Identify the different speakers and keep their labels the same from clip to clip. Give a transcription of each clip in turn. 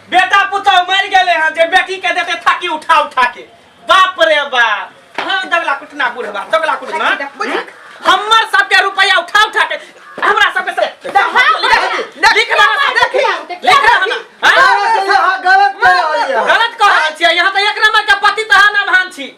Speaker 1: बेटा पुतौ मरि गेले हैं जे बेटी के देते थाकी उठा उठा के बाप रे बाप हाँ दगला कुटना बुढ़वा दगला कुटना हम्म? हमर सबके रुपया उठा उठा के हमरा सबके से लिख रहा ना लिख रहा ना हाँ? गलत कह रहल छियै यहाँ तो एक नंबर के पति तहा ना भान छी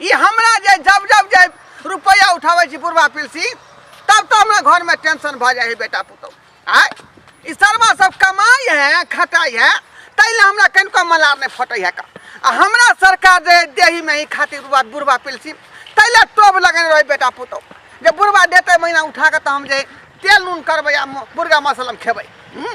Speaker 1: ई हमरा जे जब जब जे रुपैआ उठाबै छी बुढ़वा पिलसी तब तो हमरा घरमे टेंशन भऽ जाइ है बेटा पुतहु आय ई शर्मा सब कमाइ है खटाइ है ताहि लए हमरा कनिको मलार नहि फटै है का आ हमरा सरकार जे देहीमे ही खातिर बुढ़वा बुढ़वा पिलसी ताहि लए टोभ लगेने रहै बेटा पुतहु जे बुढ़वा देतै महीना उठा कऽ तऽ हम जे तेल नून करबै आ म- मुर्गा मसलम खेबै हूँ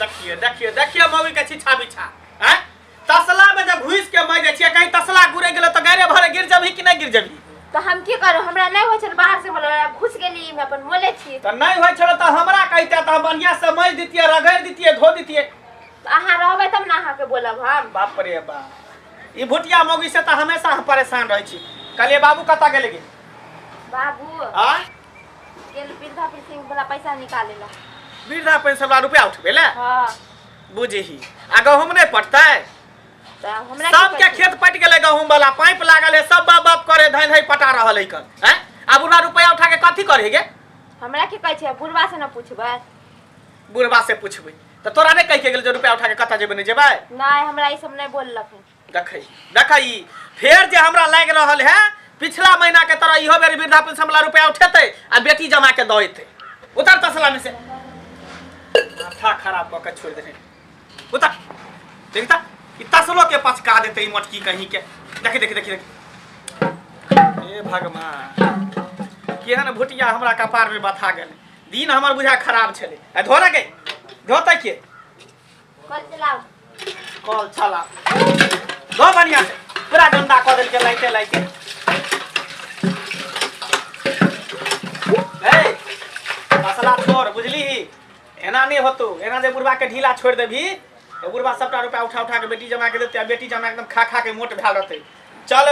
Speaker 1: देखिए देखिए देखिए मौगी के छिछा बिछा हैं तसला में जब घुस के मर जाइए कहीं तसला गुरे गेलो तो गरे भरे गिर जबही कि नहीं गिर जबही तो हम की करो हमरा नहीं होय छल बाहर से बोलो घुस गेली हम अपन मोले छी तो नहीं होय छल तो हमरा कहते तो बढ़िया से मज दितिए रगड़ दितिए धो दितिए अहाँ रहबे तब ना अहाँ के बोलब हम बाप रे बा ई भुटिया मौगी से तो हमेशा हम परेशान रह छी कलिए बाबू कता गेले गे बाबू आ गेल वृद्धा पेंशन वाला पैसा निकाले ला वृद्धा पेंशन वाला रुपया उठबे ले हाँ बुझही आ गहूम नहीं पटतै तो हमरा की सबके पता? खेत पट गेलै गहूम वाला पाइप लागल है सब बाप बाप करे धैन है पटा रहल है कन हैं आब उना रुपया उठा के कथी करे गे हमरा की कहै छै बुढ़वा से न पूछबै बुढ़बा से पूछबै तऽ तोरा नहि कहि के गेल जे रुपया उठा के कतऽ जेबै नहि जेबै नहि हमरा ई सब नहि बोललक हन देखै देखै ई फेर जे हमरा लागि रहल है पिछला महीना के तरह इहो बेर वृद्धा पेंशन वाला रुपया उठेतै आ बेटी जमा के दऽ एतै उतर तसला में से माथा खराब कऽ के छोड़ि देने उतर देख तऽ ई तसलो के पचका देतै ई मोटकी कहीं के देखी देखी देखी देखी हे भगवान केहन भुटिया हमरा कपार में बथा गेल दिन हमर बुझा खराब छलै आ धोरे गई धोतै के कल चलाओ कल चला दो बढ़िया से पूरा गंदा कऽ देलके लाइटे लाइटे ए मसला छोड़ बुझली ही एना नहीं होतो एना जे बुढ़वा के ढीला छोड़ देबी तो बुढ़वा सबटा रुपया उठा उठा के बेटी जमा के देते आ बेटी जमा एकदम खा खा के मोट भेल रहते चल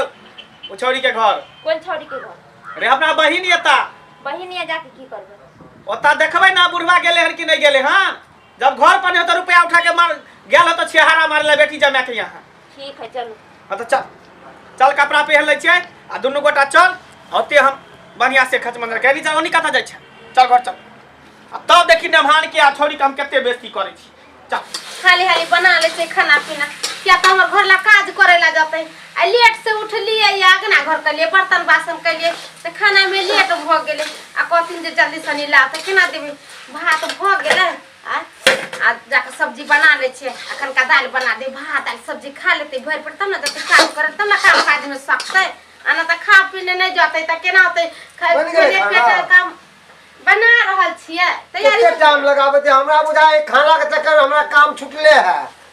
Speaker 1: ओ छौरी के घर कोन छौरी के घर रे अपना बहिन एता बहिनिया जाके की करबे ओता देखबै ना बुढ़वा गेले हन कि नहीं गेले हन जब घर पर नहीं होता रुपया उठा के मार गया हो तो छेहारा मार ले बेटी जमा के यहाँ ठीक है चलो हाँ तो चल चल कपड़ा पहन ले छियै आ दुनू गोटा चल ओते हम बढ़िया से खच मंदिर के नीचा ओनी कतऽ जाइ छै चल घर चल आ तब देखी नमहान के आ छोड़ी के हम कते बेइज्जती करै छी चल हाली हाली बना ले से खाना पीना क्या तो हमर घर ला काज करे ला जाते आ लेट से उठलिए या अगना घर के लिए बर्तन बासन के लिए तो खाना में लेट भ गेले आ कहथिन जे जल्दी सनी ला तो केना देबे भात भऽ गेलै आ आ जाकऽ सब्जी बना लै छियै अखन का दालि बना दे भात दालि सब्जी खा लेतै भरि पेट तब ने जतै काम करत तब ने काम काजमे सकतै आ नहि तऽ खा पीने नहि जतै तऽ केना होतै खा- बनि गेलै पेट- खाना? पेट काम बना रहल छियै तैयारी एते टाइम लगाबै छै हमरा बुझाय खाना के चक्कर मे हमरा काम छुटले है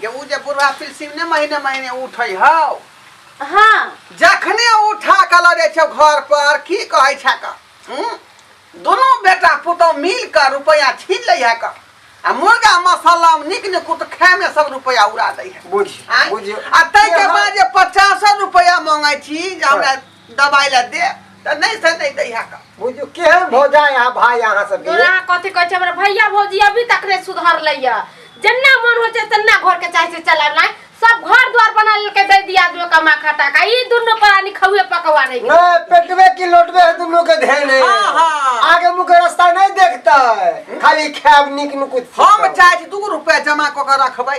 Speaker 1: जे ऊ जे बुढ़वा पिलसिम ने महीने महीने उठै हौ हाँ जखने उठा कऽ लऽ जाइ छौ घर पर की कहै छै कऽ हूँ? दुनू बेटा पुतहु मिल कऽ रुपैआ छीन लै है कऽ आ मुर्गा मसाला नीक नीक कुत खाय में सब रुपैआ उड़ा दै है बुझ आँय? बुझियो आ ताहि के बाद जे पचासो रुपैआ मांगै छी जे हमरा दबाई ला दे त नहीं से नहीं दई हा का बुझू केहन भौजा यहाँ भाई यहाँ सब तोरा कथी कहै छै हमरा भैया भौजी अभी तक नै सुधर लैया जन्ना मन होइ छै तन्ना घर के चाहे से चलाब नै सब घर द्वार बना लेलकै दै दिया दो कमा खाता का ई दुनो प्राणी खौए पकवा नै न पेटवे की लोटवे है दुनो के धेने हाँ, हाँ। आगे मुँह के रास्ता नहीं देखता है खाली खाब निक नुकुत हम चाहे छी दू रुपया जमा क के रखबै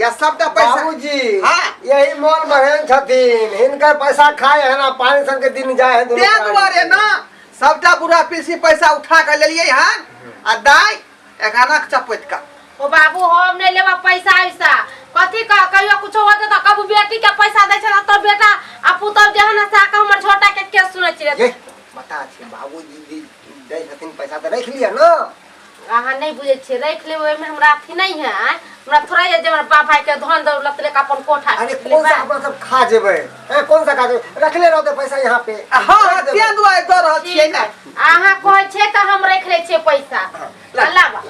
Speaker 1: या सब त पैसा बाबूजी हाँ। यही मोल महेन छथिन हिनकर पैसा खाए है ना पानी सन के दिन जाए है दुनू ते प्राणी। दुआरे ना सबटा बुढ़ा पीसी पैसा उठा के लेलिए हन आ दाई एगाना के चपैत का ओ बाबू हम नहीं लेबा पैसा ऐसा कथी कह कहियो कुछो होते तो कबू बेटी के पैसा दै छै तो बेटा आ पुतब जे है ना साका हमर छोटा के के सुनै छियै ये बता छी बाबूजी जी दै छथिन पैसा त रख लिया ना अहाँ नहि बुझै छियै राखि लेबै ओहिमे हमरा अथी नहि है आँय हमरा थोड़ा ये जे हमरा बाप भाई के धन दौलत लेके अपन कोठा अरे खींच कौन सा लेबै। अपना सब खा जेबै ए, कौन सा खा जेबै रखले रहते पैसा यहाँ पे आ हाँ हाँ रख देबै। तें दुआरे दऽ रहल छियै ठीक ने है। अहाँ कहै छियै तऽ हम राखि लै छियै पैसा ला। लाबा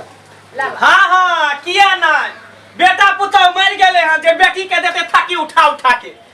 Speaker 1: लाबा हाँ हाँ किया नहीं बेटा पुतौ मर गए हैं जे बेटी के देते थाकी उठा उठा के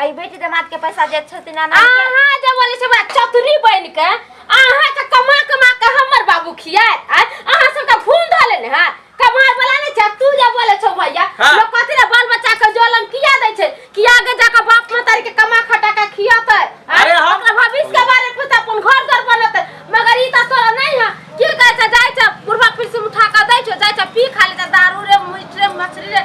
Speaker 1: आई बेटी दामाद के पैसा जे छथिन ना अहाँ जे बोले छै बड़ा चतुरी बन के अहाँ के कमा कमा के हमर बाबू खियाए आ अहाँ सब के भून धले ने हां कमाए वाला ने छै तू जे बोले छौ भैया हाँ। लोग कथि ने बाल बच्चा के जलम किया दै छै कि आगे जाके बाप मतारी के कमा खटा के खियाते अरे हम- अपना भविष्य के बारे में पता अपन घर घर बनते मगर ई त तोरा नहीं है की कहै छै जाय छै बुढ़वा फिर से उठा के दै छै जाय छै पी खा ले दारू रे मीट रे मछली रे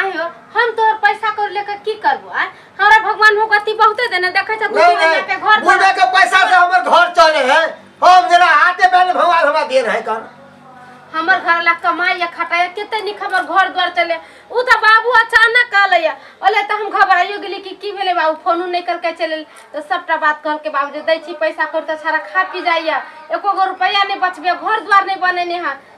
Speaker 1: आइ हो हम तोहर पैसा कर लेके की करबो आ हमरा भगवान भगवती बहुते देने देखे छ तू नहीं जीवन जाके नहीं घर बुझे के पैसा से हमर घर चले है हम जरा हाथे बैल भगवान हमरा दे रहे कर हमर घर ला कमाई या खटाई केते निक हमर घर द्वार चले उ त बाबू अचानक आले या ओले त हम घबराइयो गेली कि की भेले बाबू फोन नहीं करके चले त सबटा बात कह के बाबू जे दै छी पैसा कर त सारा खा पी जाइया एको गो रुपया नहीं बचबे घर द्वार नहीं बनेने है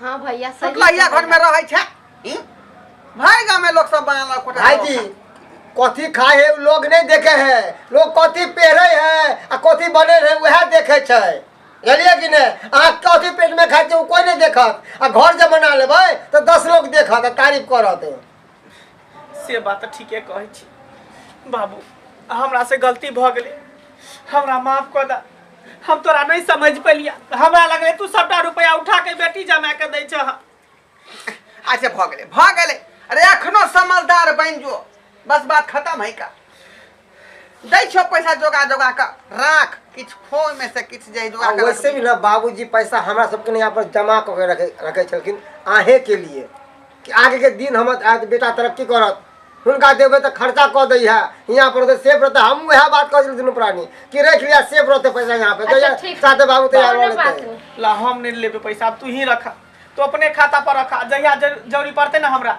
Speaker 1: हाँ भैया सही मतलब यह घर में कहला। रहे छे ई भाई गांव में लोग सब बांगला कोटा भाई जी कथी खाए है उ लोग नहीं देखे है लोग कथी पहरे है आ कथी बने है वह देखे छै बुझलिए कि ने अहाँ कथी पेट में खाए छै उ कोई नहीं देखत आ घर जब बना लेबै तो दस लोग देखत आ तारीफ करत से बात तऽ ठीके कहै छी बाबू हमरा से गलती भऽ गेलै हमरा माफ कऽ दे हम तोरा नहि समझ पेलिया हमरा लगलै तू सबटा रुपया उठा के बेटी जमा के दै छह अच्छा भऽ गेलै भऽ गेलै अरे एखनो समझदार बनि जो बस बात खतम है का दै छौ पैसा जोगा जोगा कऽ राख किछ खो में से किछ जे जोगा कऽ वैसे भी ना बाबूजी पैसा हमरा सबके ने यहाँ पर जमा कऽ के रखे रखे छलखिन आहे के लिए कि आगे के दिन हम आज बेटा तरक्की करत हुनका देवे तो खर्चा कऽ दै है यहाँ पर तो सेफ रहते हम वह बात कह दिल प्राणी कि रख लिया सेफ रहते पैसा यहाँ पे अच्छा, तो साथे बाबू तैयार हो लेते ला हम नहीं लेबे पैसा अब तू ही रखा तो अपने खाता पर रखा जहिया जरूरी पड़ते ना हमरा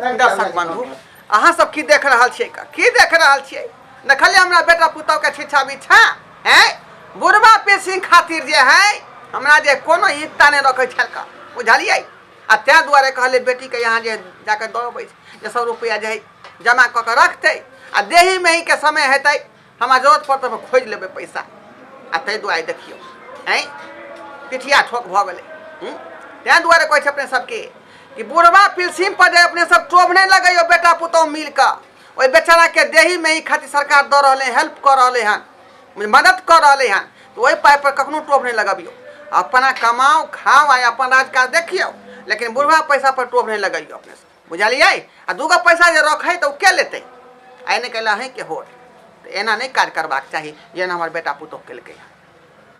Speaker 1: दर्शक बंधु अहाँ सब की देख रहल छियै का? की देख रहल छियै देखलिए हमरा बेटा पुतहु के छिछा बिछा हैं बुढ़वा पेशिंग खातिर जे है हमरा जे कोनो हिस्सा नहि रखै छल का बुझलियै आ ताहि दुआरे कहले बेटी के यहाँ जे जाके दऽ अबै छै जे सौ रुपया जे है जमा कऽ के रखतै आ देही मेही के समय हेतै हमरा जरूरत पड़त तऽ खोजि लेबै पैसा आ ताहि दुआरे देखियौ आँय पिठिया ठोक भऽ गेलै हूँ? ताहि दुआरे कहै छै अपने सबके कि बुढ़वा पिलसिम पर जे अपने सब टोभ नहि लगैयो बेटा पुतौह मिल कऽ ओहि बेचारा के देही में ही खातिर सरकार दऽ रहलै हेल्प कऽ रहलै हन मदद कऽ रहलै हन तऽ ओहि पाइ पर कखनो टोभ नहि लगबियौ अपना कमाओ खाओ आ अपन राजकाज देखियौ लेकिन बुढ़वा पैसा पर टोभ नहि लगैयो अपने सब बुझलियै आ दूगो पैसा जे रखै तऽ ओ के लेतै आइ नहि कयला अहीँके होट तऽ एना नहि काज करबाक चाही जेना हमर बेटा पुतोह केलकै हँ